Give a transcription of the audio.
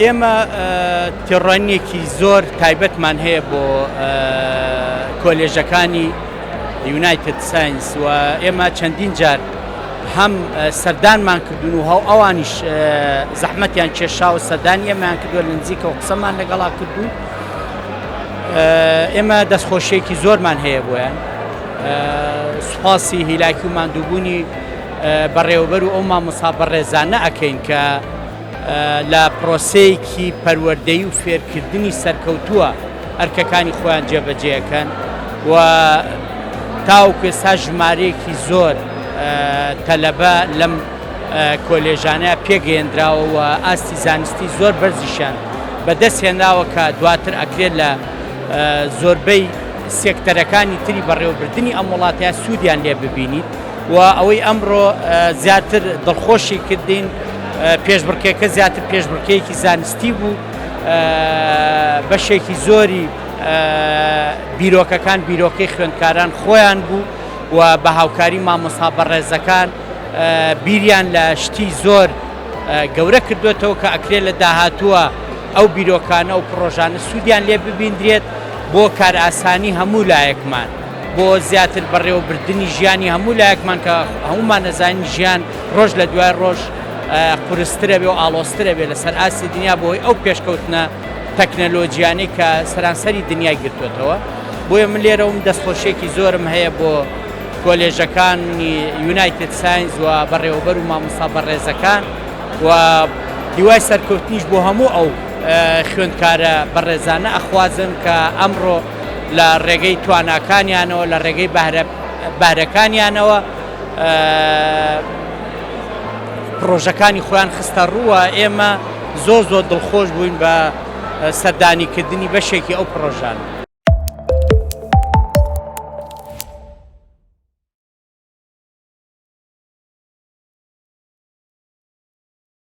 ئێمە تێڕۆنیەکی زۆر تایبەتمان هەیە بۆ کۆلێژەکانی یونایتد ساینس و ئێمە چەندین جار هەم سەردانمان کردون و هەو ئەوانیش زەحمەتیان کێشا و سەدانی ئەمان کردووە لە نزیکە و قسەمان لەگەڵا کردو ئێمە دەستخۆشیێکی زۆرمان هەیە بۆیان سپاسی هیلاکی و ماندووبوونی بەڕێوەبەر و ئەو مامۆسا بەڕێزانە ئەکەین کە لە پرۆسەیەکی پەروەردەی و فێرکردنی سەرکەوتووە ئەرکەکانی خۆیان جێبەجێەکەن و تاوکو ئێستا ژمارەیەکی زۆر تەلەبە لەم کۆلێژانە پێگەێنراوە و ئاستی زانستی زۆر بەرزیشان بەدەست هێنراوە کە دواتر ئەکرێت لە زۆربەی سێکتەرەکانی تری بەڕێوەبردنی ئەم وڵاتە سوودیان لێ ببینیت و ئەوەی ئەمڕۆ زیاتر دڵخۆشی کردین پێشبڕکێکە زیاتر پێشبڕکەیەکی زانستی بوو بەشێکی زۆری بیرۆکەکان بیرۆکەی خوێندکاران خۆیان بوو و بە هاوکاری مامۆستا بەڕێزەکان بیریان لە شتی زۆر گەورە کردوێتەوە کە ئەکرێت لە داهاتووە ئەو بیرۆکانە و پرۆژانە سوودیان لێ ببیندرێت بۆ کارئاسانی هەموو لایەکمان، بۆ زیاتر بەڕێوەبردنی ژیانی هەموو لایەکمان کە هەموومان ئەزانین ژیان ڕۆژ لە دوای ڕۆژ قورسترە بێ و ئاڵۆزترە بێ لەسەر ئاستی دنیا بەهۆی ئەو پێشکەوتنە تەکنەلۆجیانەی کە سەرانسەری دنیای گرتووەتەوە بۆیە من لێرەوم دەستخۆشیەکی زۆرم هەیە بۆ کۆلێژەکانی یونایتد ساینز و بەڕێوەبەر و مامۆستا بەڕێزەکان و هیوای سەرکەوتنیش بۆ هەموو ئەو خوێندکارە بەڕێزانە ئەخوازم کە ئەمڕۆ لە ڕێگەی تواناکانیانەوە لە ڕێگەی بەهرەکانیانەوە پرۆژەکانی خۆیان خستە ڕووە ئێمە زۆر زۆر دڵخۆش بووین بە سەردانیکردنی بەشێکی ئەو پرۆژانە.